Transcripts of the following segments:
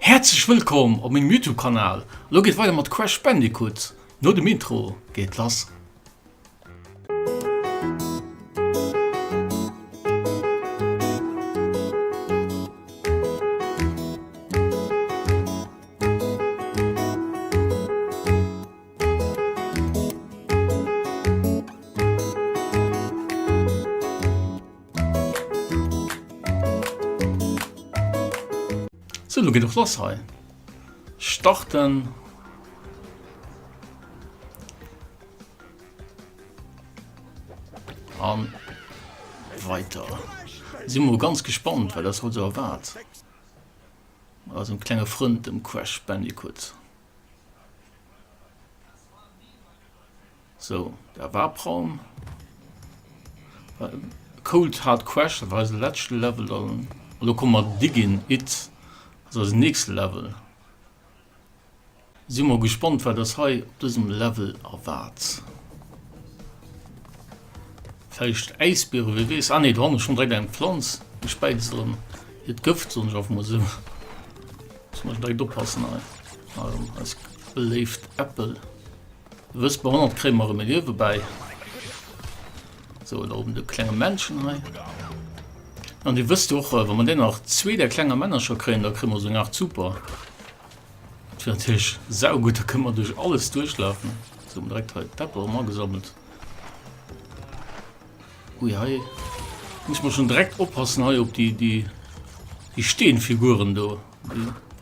Häerzlech wëllkomm op mengem Youtube Kanal, elo geet weider mat Crash Bandicoot, no dem Intro geet et lass. So lo geet och lass hei. Starten. An weiter. Si mo ganz gespannt, well ass haut se erwaart. Ass un klenge Frënd dem Crash Bandicoot. So dat war Palm Cold Hard Crash, dat war eise lätschte Level an elo komme mer Diggin It, dat ass eisen nächste Level. Si mol gespannt wat ass hei op dësem Level erwaart. Vläicht Äisbiere, wie weess. Ah nee, do han ech schonn direkt eng Planz gespäizt an hiert Gëft, soen ech einfach mol esou. Muss mer direkt oppassen hei, eis beléift Äppel. Wëss bei 100 kréie mer rem e Liewe bäi. So da oben de klenge Männchen hei. An Dir wësst och, äh, wann man dee nach zwee der klenger Männercher kréien, da krimme mer seng Aart super. Dat fir natierlech saugutt, da kënne mer duerch alles duerchlafen. So hun direkt hei d'Pepper rem agesammelt. Ui hei muss man schon direkt oppassen hei op déi déi déi Steenfiguren do.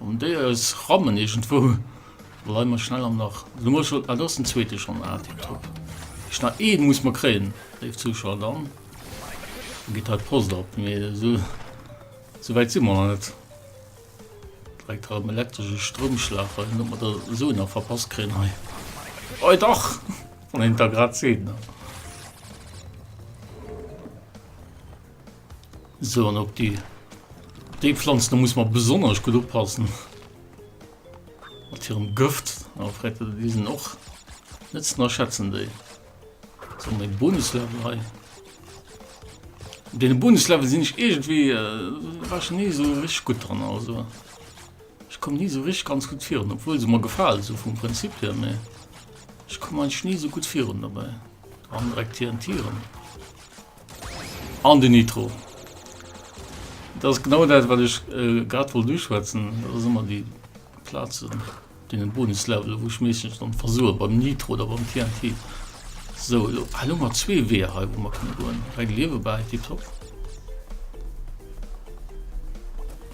An déi eis rammen iergendwou. Lei mer schnell am nach. Du muss ah, do ass den zweete schonn. Ah, tipptopp. Ech nach ee muss mer kréien, léif Zuschauer. Dann geet hei d'Post op. Mee esou esou wäit si mer nach net. Dréckt hei op den elektresche Stroumschlag. Wei ob mer da esou nach verpasst kréien hei. Oi dach! Wann een et da grad seet, ne? Sou an op déi déi Pflanzen, do muss mer besonnesch gutt oppassen mat hirem Gëft, a fräit et, déi sinn och net z'ënnerschätzen déi. Sou an dee Bonuslevel hei, deene Bonuslevel sinn ech iergendwéi, war ech ni sou richteg gutt dran, also ech komm ni sou richteg ganz gutt virun, obwuel se mer gefalen sou vum Prinzip hier, mee ech komm eigentlech ni sou gutt virun dobäi. Do han direkt TNT rëm. An den Nitro. Dat ass genau dat, wat ech grad wollt uschwätzen. Dat ass ëmmer déi Plazen, dee Bonuslevel, wou ech meeschtens dann versoe beim Nitro oder beim TNT. Sou, elo hu mer zwee Weeër hei, wou mer kënne goen. Hei gleewe bei, tipptopp.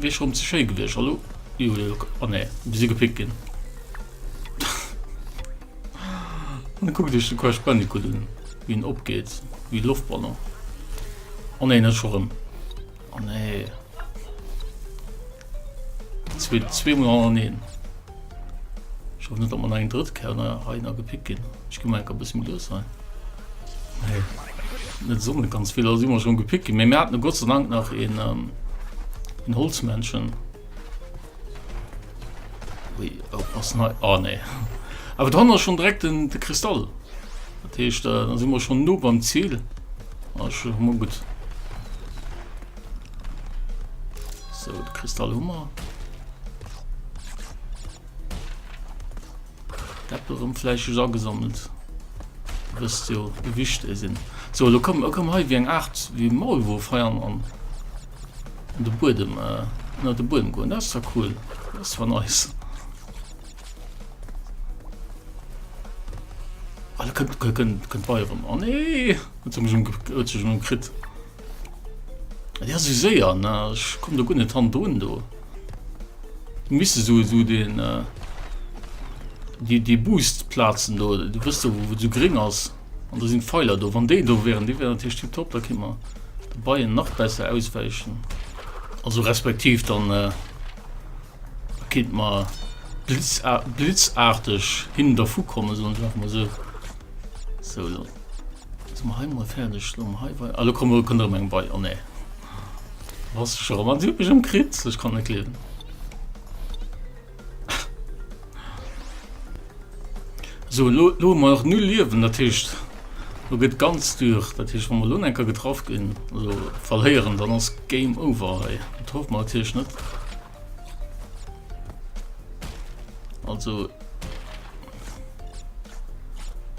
Wéi schon ze schéi gewiescht hallo oh nee si gepickt ginn dann kuck dech de Crash Bandicoot un wéi en opgeet wéi Loftballon oh nee net scho rëm oh nee zwee zwee mol hannereen Ech hoffen net dat mer nach eng drëtt Kéier nach hei nach gepickt ginn. Ech gi mol eng Kéier e bësse méi lues hei. Nee, net esou net ganz vill. Elo si mer erëm gepickt ginn, mee mir haten e Gott sei Dank nach een een Holzmännchen. Ui, oppassen hei, ah nee. Awer do hannen ass schonn direkt den de Kristall. Dat heescht, da si mer schonn no beim Zil. Ah, ech hu mol gutt. So, de Kristall Hummer. Deppel rum Fleisch is angesammelt. Wirst jo gewicht e sinn. So lo kom kom hei wie eng Art wie Maul wo feiern an de Budem äh, na de Budem goen das da cool. Das war nice. Alle kënnt kënnt kënnt bei rum. Oh nee! Wat zum krit. Ja sou séier na ech komm do gun net han drun do misse so so den äh, die die boost platzen do du wisst du wo du gering ass an da sind feiler do wann de do wären die wären tisch die top da kimmer beien nach besser ausweichen also respektiv dann äh, kind mal blitz blitzartig hin der fu kommen so einfach mal so so Sinn mer hei mol fäerdeg elo? Hei wei ah elo komm elo kënnt erëm eng bei. Oh nee do bass de scho rëm an si huet mech ëmkritt. Ech kann et net gleewen. Sou elo elo hu mer nach null Liewen dat heescht elo gëtt ganz dur. Dat heescht wa mer elo nach eng Kéier getraff ginn also verléieren dann ass Game over hei. Dat hoffe mer natierlech net. Also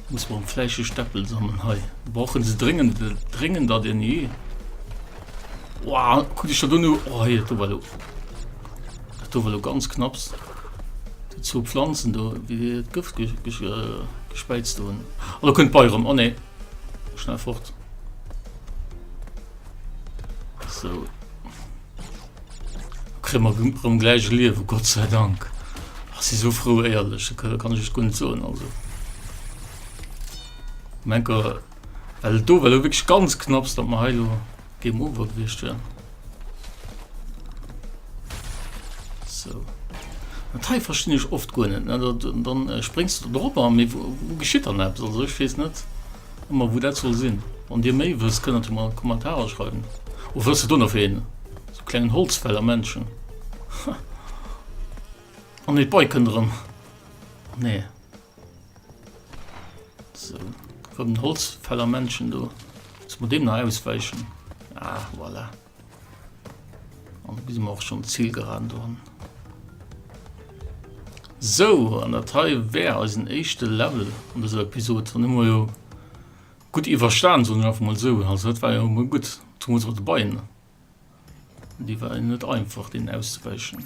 muss man fleische Steppel sammeln hei. Brauchen sie dringend dringend da den nie. Wow, gut ich du nur oh, hier, du, du. du du ganz knapps die zu Pflanzen du wie Gift ges ges äh, gespeizt du. Oh, du könnt bei rum. Oh ne. Schnell fort. So. Kréie mer rëm gläich e Liewe, Gott sei Dank. Ech si esou frou, éierlech, da kann ech iech guer net soen. Also um enker, well et do war elo wierklech ganz knapps, datt mer hei elo Game over gewiescht wären. So. Dat hei verstinn ech oft guer net, ne? Dat, dann äh, spréngs du drop an, mee wou geschitt dann eppes? Also ech weess net. Ma wou dat soll sinn? Wann dir méi wësst, kënnt der mer an d'Kommentarer schreiwen. O wësst der do nach ween? Sou klengen Holzfäller Männchen. Oh nee, d'Bike kënnt erëm. Oh nee. Sou, erëm den Holzfäller Männchen do. Muss mer deem nach auswäichen. Ah, voilà. An bis mer och schon d'Zil geraden dran. So, an dat hei wär eisen éischte Level an dëser Episode. An hu mer jo gutt iwwerstan, soen ech einfach mol esou. Also dat war jo mol gutt. Zumools och de Beien, déi war jo net einfach, deenen auszewäichen.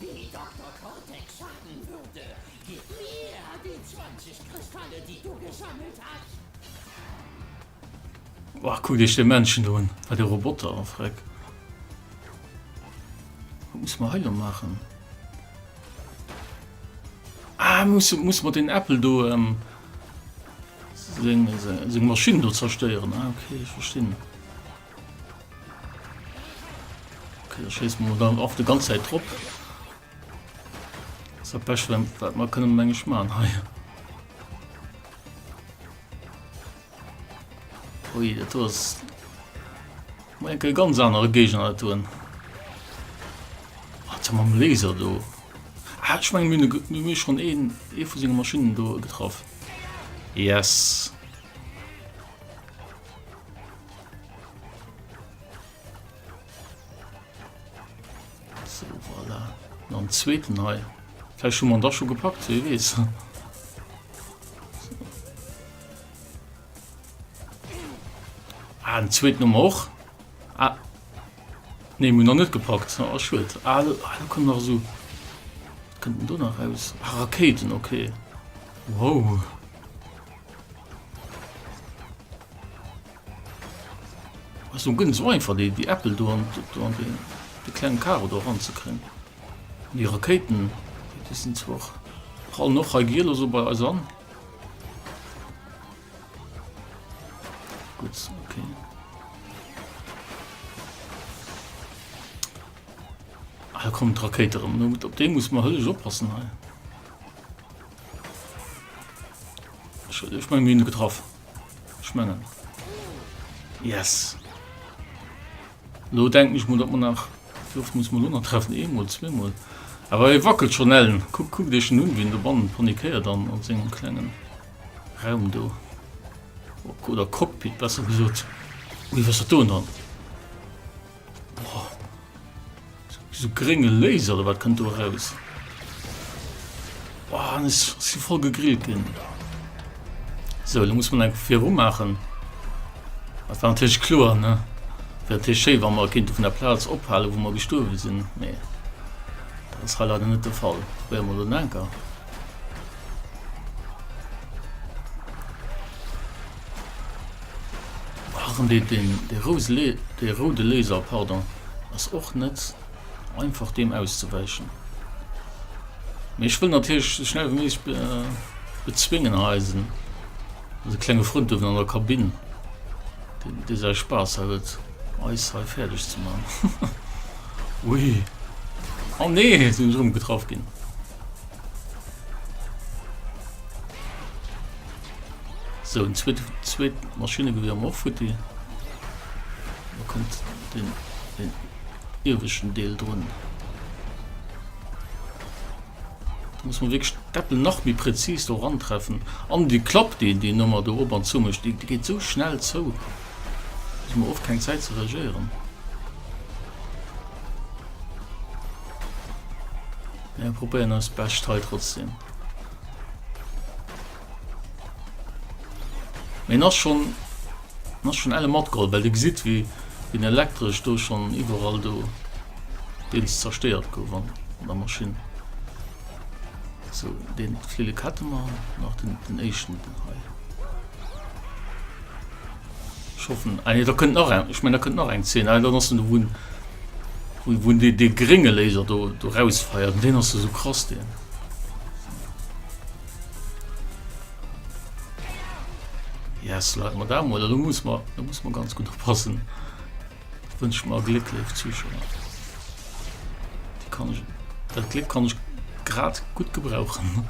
Déi Doktor Cortex schaffen würde, gib mir déi 20 Kristalle, déi du gesammelt has. Wow, kuckt iech de Männchen do un. Wat e Roboter, oh Freck. Wat muss mer hei lo maachen? Ah, muss, muss mer den Äppel do, ähm, seng, seng Maschinn do zerstéieren. Ah, okay, ich verstinn. Okay, da schießt man dann oft die ganze Zeit drauf. Das ist ein Pech, wenn man können Menge schmaren. Ui, das ist ein ganz anderer Gegner tun. Hat man einen Laser da? Ah, ich meine, wir haben schon einen, einen von seinen Maschinen da getroffen. Yes. am zweiten Ei. Vielleicht schon man das schon gepackt, wie weiß. Ah, den zweiten haben wir auch. Ah. Ne, wir noch nicht gepackt. Ah, schuld. Ah, da ah, kommt noch so. Was kommt denn da noch raus? Ah, Raketen, okay. Wow. Ass nun gënn esou einfach déi déi Äppel do an do an deen de klengen Karo do ran ze kréien. An déi Rakéiten déi sinn zwar och prallen och hei giel esou bei eis an. Gutt okay. Ah, da kommen d'Rakéite erëm. Op dee muss mer hëllech oppassen hei. Ech meng mine getraff schmengen yes lo denk ich mul dat man nach duft muss man lunner treffen emol zwemol awer e wackelt schon ellen kuck kuck dech nun wien de bannen panikéier dann an sengem klengen raum do oder cockpit besser gesot wie was dat do dann Boah. So grénge Laser oder wat kënnt do eraus? Boah, an ech si voll gegrillt ginn. So, da muss man eng viru maachen. Dat war natierlech kloer, ne? Wär natierlech schéi, wa mer kéinte vun der Plaz ophalen, wou mer gestuerwe sinn, mee dat ass hei leider net de Fall. Probéiere mer elo en anker. Ach, an dee roude Laser, pardon, ass och net einfach deem auszewäichen. Mee ech wëll natierlech sou schnell wéi méiglech bezwéngen hei eisen, eise klenge Frënd do an der Kabinn, dee säi Spaass hat et eis hei fäerdeg ze maachen. Ui, oh nee, sinn ech erëm getraff ginn! Sou en zweet Maschinnegewier am och futti. Da kommt den den ieweschen Deel drun. Da muss man wirklich d'Äppel nach méi präzis do rantreffen. An die Klapp déi déi Nummer do op an zu mecht, déi geet sou schnell zou. Hun mer och keng Zäit ze reagéieren. Mir probéieren eist Bescht hei trotzdem. Meen ass schon ass schon elle matgeholl, well de gesit wie den elektrisch do schon iwwerall do deels zersteiert gouf an der Maschine. So den Flille Kette man nach den, den echten den hei. Schaffen ah, nee, da könnt nach eng ich mein, da könnt nach eng 10 dann ass du wun wun de de geringe Laser do do rausfeiert den ass du so krass den. Yes, Leit, ma da mol, da muss man, da muss man ganz gut oppassen. Wünsch mal Glück, liebe Zuschauer. Die kann ich, das Glück kann ich gerade gut gebrauchen.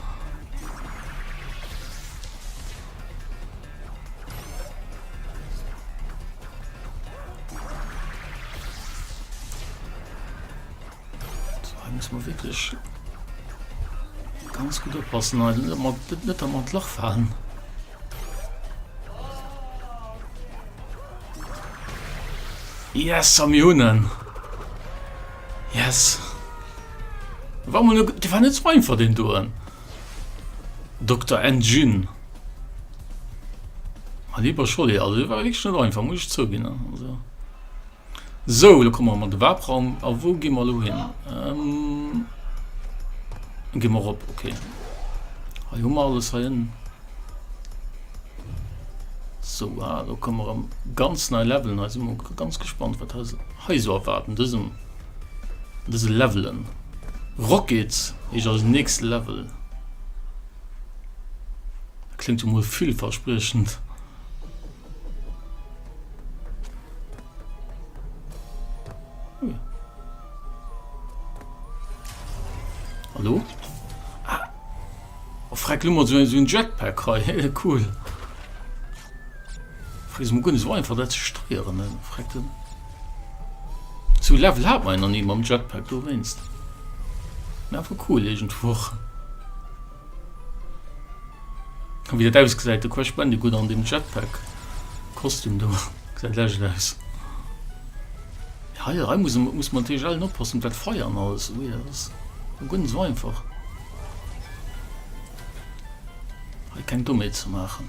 ganz gut oppassen net am mat Loch fallen. Yes am Joen Yes Wa fan net mein ver den doen Dr. Engine Lieber Scholle also war schon einfach muss ich zouginne. Sou, elo komme mer an de Warp-Raum. A wou gi mer elo hin? Do gi mer erop, ok. Hei hu mer alles heiënnen. Sou, ah, do komme mer erëm ganz nei Levelen. Hei si mer och ganz gespannt, wat eis hei esou erwaart an dësem, an dëse Levelen. Rocket heescht eisen nächste Level. Kléngt jo mol villverspriechend. Hallo? Ah. Oh, freck, lummer so, so ein Jetpack hei. cool. Freck, so gut, es war einfach das zu steuern, ne? Freck, dann. So Level hat man noch nie beim Jetpack, du weinst. Einfach cool, irgendwo. Wéi dat ausgesäit, de Crash Bandicoot an dem Jetpack Kostüm do, gesäit lescht aus. Hei, hei muss, muss man natürlich allen oppassen, dat Feier an alles, ui, dat ass guer net sou einfach. Hei keng Dommheet ze maachen.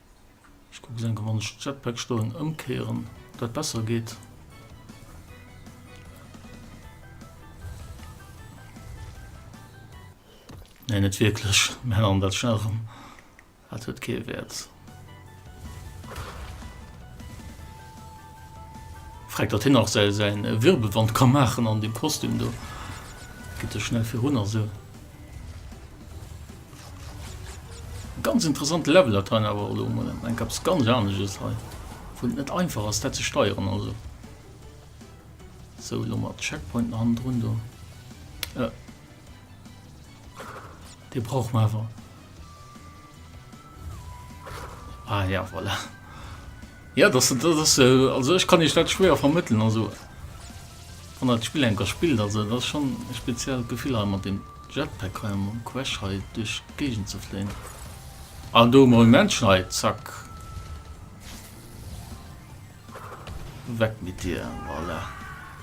Ech kucken enke wann ech Jetpack stoen ëmkéieren op dat besser geet. Nee net wierklech Mä an dat Charm hat huet kee Wäert. Fräck datt hien nach säi säin Wirbelwand ka maachen an deem Kostüm do. Gitt dech schnell virun a sou. Ganz interessant Level dat hei awer elo mol eng kaps ganz anesches hei wou net einfach ass dat ze steieren also so lo mat Checkpoint an run do äh. de brauch ma awer ah ja voilà Jo, dass se, dass se, also ech kann Iech dat schwéier vermëttelen, also wann Der dat Spill eng Kéier spillt, also et ass schonn e speziellt Gefill hei mat deem Jetpack hei, mam Crash hei duerch d'Géigend ze fléien. Ah do hu mer e Männchen hei, zack, weg mit dir, voilà.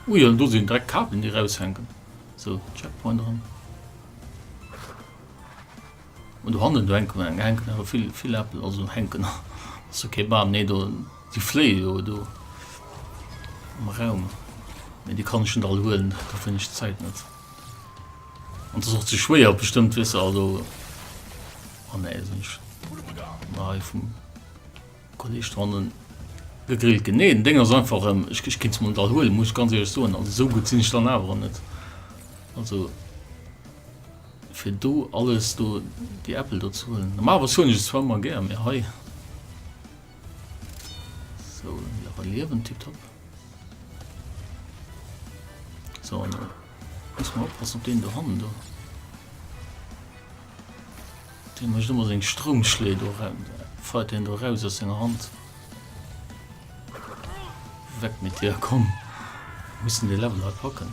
Ui, jo do sinn direkt d'Kabelen déi raushänken, sou Checkpoint erëm. An do hannen do hänken awer, hänken awer vill, vill Äppel, also hänken ass jo kee Bam, nee do, déi fléie jo do am Raum, mee déi kann ech net all huelen, dofir hunn ech d'Zäit net an et ass och ze schwéier bestëmmt, weess de, also an nee, sinn ech na hei vum Kolleeg do hannen gegrillt ginn, nee den Dénger ass einfach, ech, ech kéint se mol net all huelen, muss ech ganz éierlech soen, also esou gutt sinn ech dann awer och net, also. fir do alles do déi Äppel do ze huelen. Normalerweis huelen ech se zwar ëmmer gär, mee hei. Sou, jo, hei liewen tiptop. Sou, an do muss mer oppassen op deen do hannen do. Dee mécht ëmmer seng Stroumschléi do ran, feiert deen do eraus aus senger Hand. Weg mit dir, komm! Mir mussen dee Level hei packen.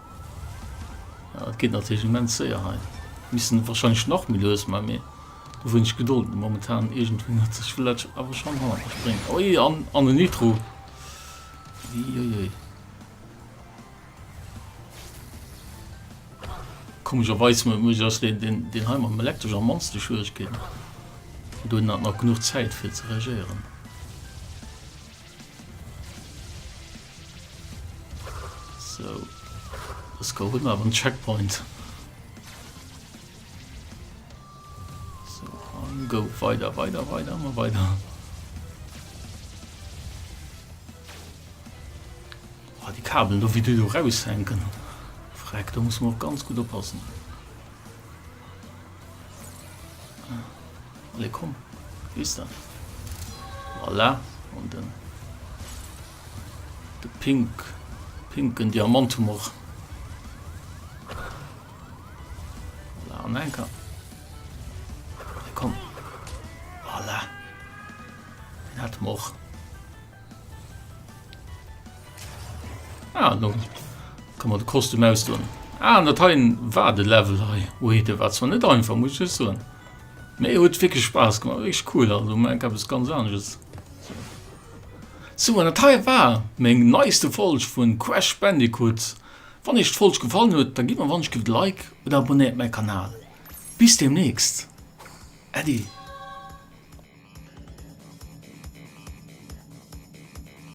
Ja et geet natierlech immens séier hei. Missten wahrscheinlech nach méi lues man mee hu wéineg Gedold momentan. Iergendwéi huet sech Village awer schonn hanner mech bréngt. Oi an an den Nitro. Uiuiui. Komescherweis muss muss ass den den den hei mam Elektresch am mannste Schwieregkeeten. Do hunn nach nach genuch Zäit fir ze reagéieren. So, let's go, hun awer en Checkpoint. So, an go, weider, weider, weider, immer weider. Oh, die Kabel, do wie du do raushänken. Freck, da muss man auch ganz gut oppassen. Alle komm, wie ist dat? Voilà, und dann... De pink, pinken Diamant hu mer. Voilà, an enker. Komm. Voilà. Den hat mer och. Ah, no. Kann man de Kostüm ausdoen. Ah, dat ha war de Level hei. Ui, de war zwar net einfach, muss ich soen. Mee huet wirklich Spaß gemacht. Echt cool, also man kann es ganz anders. Sou an dat hei war meng neiste Folg vun Crash Bandicoot. Wann iech d'Folg gefallen huet da gidd mer wonsch, gidd like oder abonnéiert mäi Kanal. Bis demnächst Äddi.